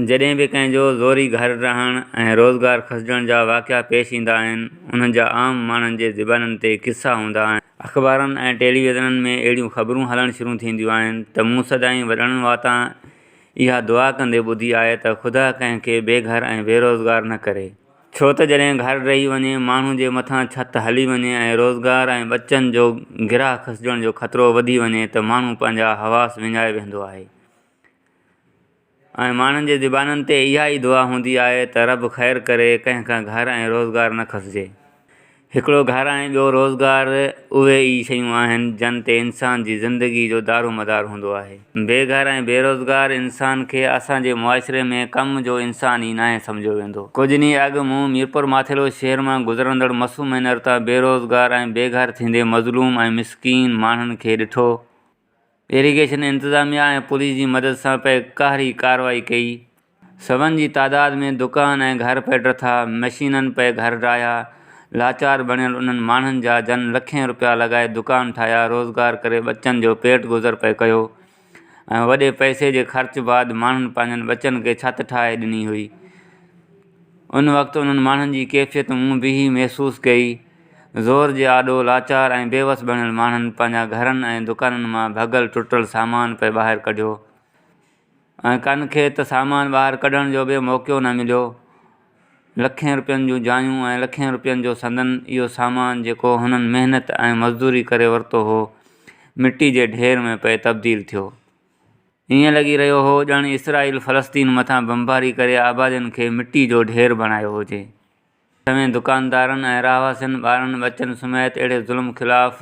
جڏهن به ڪنهن جو زوري گهر رهڻ ۽ روزگار کسجڻ جا واقعا پيش ايندا آهن، انهن جا عام ماڻهن جي زبانن تي قصا هوندا آهن. اخبارن ۽ ٽيليويزنن ۾ اهڙيون خبرون هلڻ شروع ٿينديون آهن ته مون سدائين وڏڙن واتان اها دعا ڪندي ٻڌي آهي ته خدا ڪنهن کي بي گهر ۽ بي روزگار نه ڪري. ڇو ته جڏهن گهر ڊهي وڃي، ماڻهو جي مٿان ڇت هلي وڃي ۽ روزگار ۽ ٻچن جو گرهه کسجڻ جو خطرو وڌي وڃي ته ماڻهو پنهنجا حواس وڃائي ويهندو آهي. ۽ ماڻهن جي زبانن تي اها ئي دعا هوندي آهي ته رب خير ڪري، ڪنهن کان گهر ۽ روزگار نه کسجي. هڪڙو گهر ۽ ٻيو روزگار اهي ئي شيون آهن، جن تي انسان جي زندگي جو دارومدار هوندو آهي. بي گهر ۽ بي روزگار انسان کي اسان جي معاشري ۾ ڪم جو انسان ئي ناهي سمجهيو ويندو. ڪجهه ڏينهن اڳ مون ميرپور ماٿيلو شهر مان گذرندڙ مسو مينر تان بي روزگار ۽ بي گهر ٿيندي مظلوم ۽ مسڪين ماڻهن کي ڏٺو، ايريگيشن انتظاميا ۽ پوليس جي مدد سان پئي قهري ڪارروائي ڪئي. سون جي تعداد ۾ دڪان ۽ گهر پئي ڊٿا، مشينن پئي گهر ڊاهيا، لاچار بڻيل انهن ماڻهن جا جن لکين رپيا لڳائي دڪان ٺاهيا، روزگار ڪري ٻچن جو پيٽ گذر پئي ڪيو ۽ وڏي پئسي جي خرچ بعد ماڻهن پنهنجن ٻچن کي ڇت ٺاهي ڏني هئي. ان وقت انهن ماڻهن جي ڪيفيت مون بيهي محسوس ڪئي. زور جي آڏو لاچار ۽ بيوس بڻيل ماڻهن پنهنجا گهرن ۽ دڪانن مان ڀڳل ٽٽل سامان پئي ٻاهر ڪڍيو ۽ ڪن کي ته سامان ٻاهر ڪڍڻ جو به موقعو نه مليو. لکين روپين جون جايون ۽ لکين روپين جو سندن اهو سامان جيڪو هنن محنت ۽ مزدوري ڪري ورتو هو مٽي جي ڍير ۾ پئي تبديل ٿيو. ائين لڳي رهيو هو ڄڻ اسرائيل فلسطين مٿان بمباري ڪري آبادين کي مٽي جو ڍير بڻايو هجي. سوين دڪاندارن ۽ رهواسين ٻارن ٻچن سميت اهڙي ظلم خلاف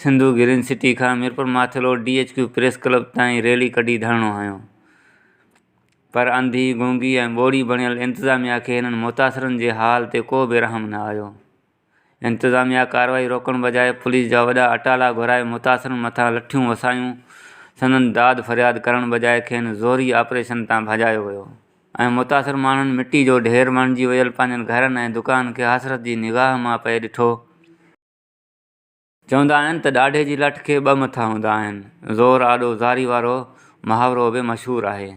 سنڌو گرين سٽي کان Mirpur Mathelo D H Q press club تائين ريلي ڪڍي ڌرڻو هنيو پر انڌي گونگي ۽ ٻوڙي بڻيل انتظاميا کي هنن متاثرن جي حال تي ڪو به رحم نه آيو انتظاميا ڪارروائي روڪڻ بجاء پوليس جا وڏا اٽالا گهرائي متاثرن مٿان لٺيون وسايون سندن داد فرياد ڪرڻ بجاء کين زوري آپريشن تان ڀڄايو ويو. ۽ متاثر ماڻهن مٽي جو ڍير بڻجي ويل پنهنجن گهرن ۽ دڪانن کي حسرت جي نگاهه مان پئي ڏٺو. چوندا آهن ته ڏاڍي جي لٺ کي ٻه مٿا هوندا آهن. زور آڏو زاري وارو محاورو به مشهور آهي.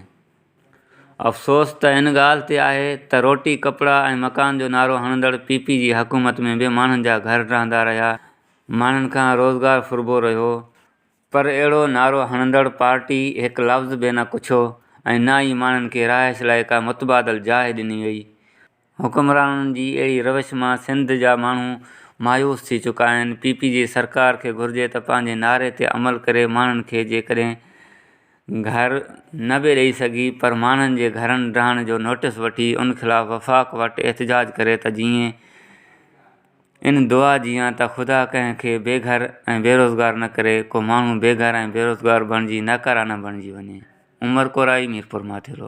افسوس ته ان ڳالهه تي آهي ته روٽي، ڪپڙا ۽ مڪان جو نعرو هڻندڙ پي پي جي حڪومت ۾ به ماڻهن جا گهر ڊهندا رهيا، ماڻهن کان روزگار ڦربو رهيو، پر اهڙو نعرو هڻندڙ پارٽي هڪ لفظ به نه ڪڇيو ۽ نه ئي ماڻهن کي رهائش لاء ڪا متبادل جاء ڏني وئي. حڪمرانن جي اهڙي روش مان سنڌ جا ماڻهو مايوس ٿي چڪا آهن. پي پي جي سرڪار کي گهرجي ته پنهنجي نعري تي عمل ڪري ماڻهن کي جيڪڏهن گهر نه به ڏئي سگهي پر ماڻهن جي گهرن ڊهڻ جو نوٽيس وٺي ان خلاف وفاق وٽ احتجاج ڪري ته جيئن ان دعا جيان ته خدا ڪنهن کي بي گهر ۽ بي روزگار نه ڪري، ڪو ماڻهو بي گهر ۽ بي روزگار بڻجي ناڪاره نه بڻجي وڃي. عمر ڪورائي، ميرپورماٿيرو.